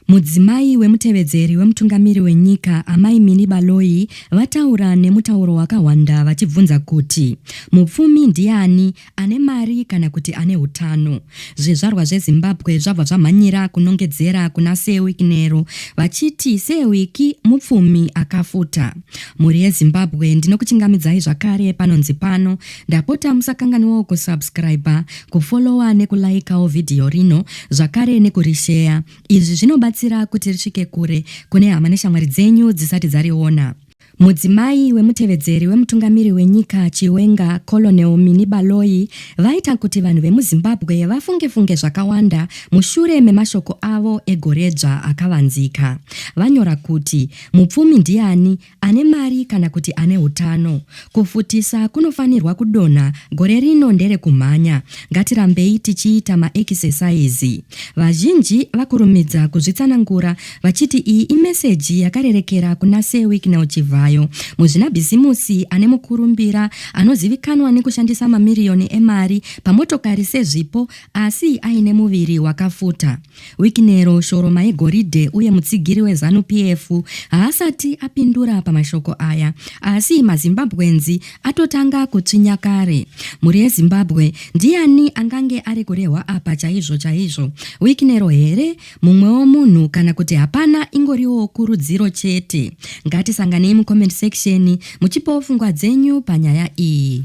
Mudzimai wemutevedzeri wemutungamiri wenyika, Amai Minnie Baloyi, vataura nemutauro wakahwanda vachibvunza kuti mupfumi ndiani, ane mari kana kuti ane utano. Zvizvarwa zveZimbabwe zvabva zvamhanyira kunongedzera kuna Sir Wick Nero vachiti Sir Wick mupfumi akafuta. Mhuri yeZimbabwe ndinokuchingamidzai zvakare panonzi pano Ndapota musakanganwawo kusubscriber, kufollower nekulikeawo vhidhiyo rino zvakare nekurisheya. Izvi zvinobatsira kuti risvike kure kune hama neshamwari dzenyu dzisati dzariona. Mudzimai wemutevedzeri wemutungamiri wenyika Chiwenga, Colonel Minnie Baloyi, vaita kuti vanhu vemuZimbabwe vafunge-funge zvakawanda mushure memashoko avo egoredzva akavanzika. Vanyora kuti, Mupfumi ndiani? ane mari kana kuti ane utano. Kufutisa kunofanirwa kudonha gore rino ndere kumhanya. Ngatirambei tichiita maekisesaizi. Vazhinji vakurumidza kuzvitsanangura vachiti iyi imeseji yakarerekera kuna Sir Wicknell Chivhayo, muzvinabhizimusi ane mukurumbira anozivikanwa nekushandisa mamiriyoni emari pamotokari sezvipo asi aine muviri wakafuta. Wikinero Shoroma yegoridhe uye mutsigiri weZanu PF haasati apindura pamashoko aya asi maZimbabweans atotanga kutsvinya kare. Mhuri yeZimbabwe ndiani angange ari kurehwa apa chaizvo chaizvo? Wikinero here? Mumwewo munhu kana kuti hapana ingoriwo kurudziro chete? Ngatisanganei mucomment section muchipawo pfungwa dzenyu panyaya iyi.